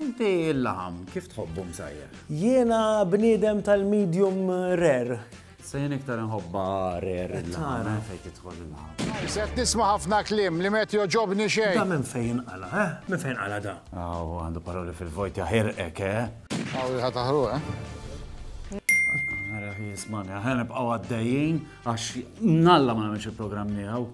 Inti l-laħam kif tħobbu msajjar? Jiena bniedem tal-medium rare. Se jien iktar nħobba rare il-laħam eh, fejn tidħol il-laħam. Se tisma' ħafna kliem li met joġobni xejn. Da minn fejn qala, eh? Minn fejn qala da? Aw, għandu paroli fil-vojt jaħirqek, eh? Aw, ħa taħru, eh? Għara, jismani, għara nibqaw għaddejjien, għax nalla ma namiex il-programm miegħu.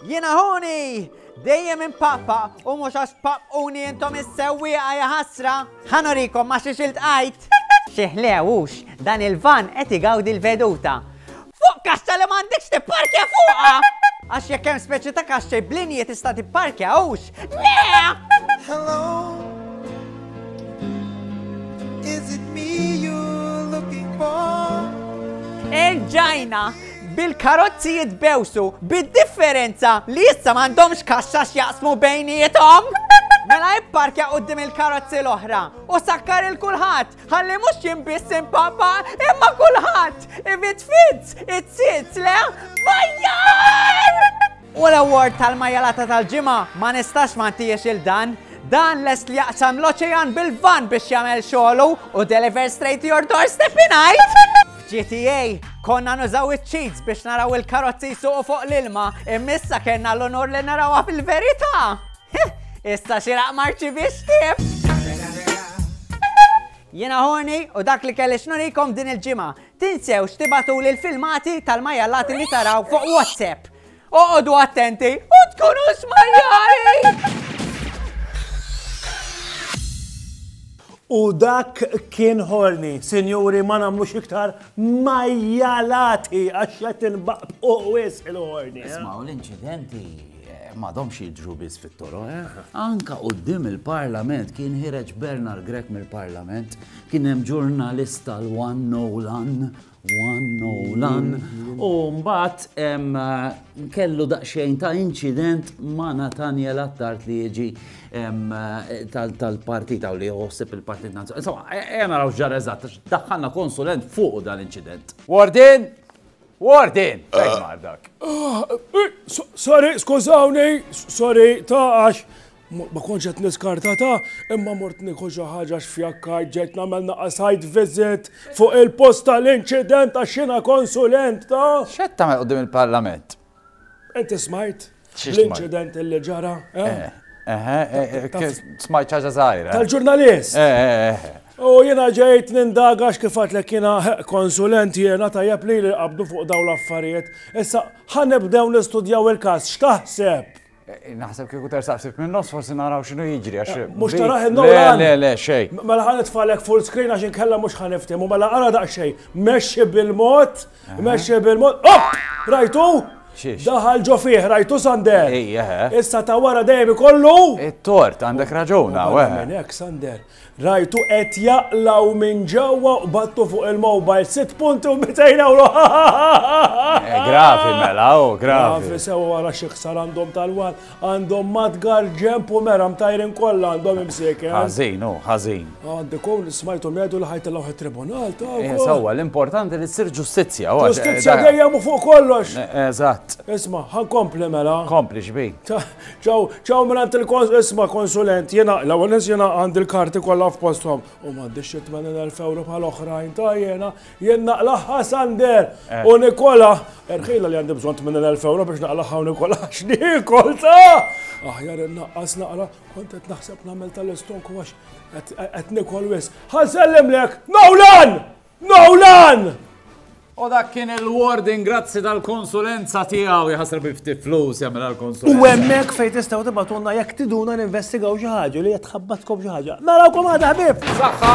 Jiena ħuni! Dejjem impaqpa u mhux għax tpaqquni intom is-sewwieqa ja ħasra! Ħanorikom ma xiex iltqajt! Xi ħlewux, dan il-van qed igawdi l-veduta. Fuq kaxxa li m'għandekx tipparkja fuqha! Għax jekk hemm speċi ta' kaxxej b'linji tista' tipparkja hux. Le! Hello. Is it me you're looking for? Erġajna! bil-karozzi jitbewsu bid-differenza li issa m'għandhomx kaxxa x'jaqsmu bejniethom. Mela ipparkja qudiem il-karozzi l-oħra u sakkar il kulħadd ħalli mhux jien biss impapa imma kulħadd if it fits it sits le vajjar! U l-award tal-majalata tal-ġimgħa ma nistax ma ntihiex lil dan. Dan lest li jaqsam l-oċean bil-van biex jagħmel xogħlu u deliver straight to your doorstep ingħid. GTA, konna nużaw iċ-cheats biex naraw il-karozzi suqu fuq l-ilma, immissa kena l-onor li narawha fil-verità. Issa xiraq marċi biex tif. Jena ħoni u dak li kelli xnurikom din il-ġimgħa. Tinsewx tibagħtuli l-filmati tal-majjallati li taraw fuq WhatsApp. Oqogħdu attenti u tkunu smajjali! U dak kien ħorni, sinjuri ma namlux iktar majjalati għax qed inbaqt u wis il-ħorni. Eh? Ismaw l-inċidenti eh, madomx jidru biss fit-toro, eh? Anka qudiem il-Parlament kien ħireġ Bernard Grek mill-Parlament Kien hemm ġurnalista l-One Nolan, One Nolan, u mbagħad kellu daqsxejn ta' inċident ma' Nathaniel Attard li jiġi tal-partita u li jħossib il-partit nazzjonali. Insomma, ejja naraw ġar eżatt, daħħalna konsulent fuq dan l-inċident. Warden! Warden! Fejn mar dak? Sorry, skużawni, sorry, ta' għax Ma kontx qed niskarta ta' imma mort nieħu xi ħaġa xfjakkajt ġejt nagħmel a site visit fuq il-post tal-inċident għax jiena konsulent ta'. X'qed tagħmel quddiem il-Parlament? Inti smajt l-inċident li ġara? Smajt xi ħaġa żgħira. Tal-ġurnalist. U jiena ġejt nindaga għax kif għedtlek jiena konsulent jiena tajjeb li li qabdu fuq dawn l-affarijiet. Issa ħa nibdew nistudjaw il-każ x'taħseb? Naħseb kieku tersaq ftit minn nofs forsi naraw x'inhu jiġri għax. Eh, mhux taraħ il-lowlan. Le, le, xej. Mela ħan nitfalek full screen għax inkella mhux ħan niftim u mela ara daqsxejn. Mexxi bil-mod, mexxi bil-mod. Oh! Rajtu? Daħal ġo fih, rajtu Sander. Issa ta' wara dejjem ikollu. It-tort, għandek raġuna, weħ. Nek, Sander. Rajtu qed jaqlaw minn ġewwa u battu fuq il-mobile sitt punti u 200 euro. Eh, gravi mela, u oh, gravi. Gravi sewa wara xi ħsar għandhom tal-wal, għandhom matgar ġemp u mera mtajrin kollha għandhom imsieker. Eh? Ħażin, u oh, ħażin. Għandi kun smajtu medu li ħajt l tribunal ta' eh, Sewa, l-importanti li ssir ġustizzja. Oh, ġustizzja dejjem u fuq kollox. Eżatt. Isma, ħankompli mela. Kompli xbi. Ċaw, ċaw minn għand il-kons, isma konsulent, jena, l ewwel nis jena għand il-karti kollha f'posthom u m'għandi xi 80,000 euro bħal oħrajn ta' jena, jien naqlaħħa Sander eh. u Nikola. Erħila li għandi bżonn 80,000 euro biex naqlaħħa u Nikola x'nikol ta' aħjar innaqqas naqra kont qed naħseb nagħmel tal-istonku għax qed nikol wis. Ħansellem lek, Nawlan! Nolan! U dak kien il-warding grazzi tal-konsulenza tiegħu jħasra bi ftit flus jagħmel għall-konsulenza. U hemmhekk fejn tistgħu tibatulna jekk tiduna ninvestigaw xi ħaġa li qed tħabbatkom xi ħaġa. Narawkom għadha ħbieb! Saħħa!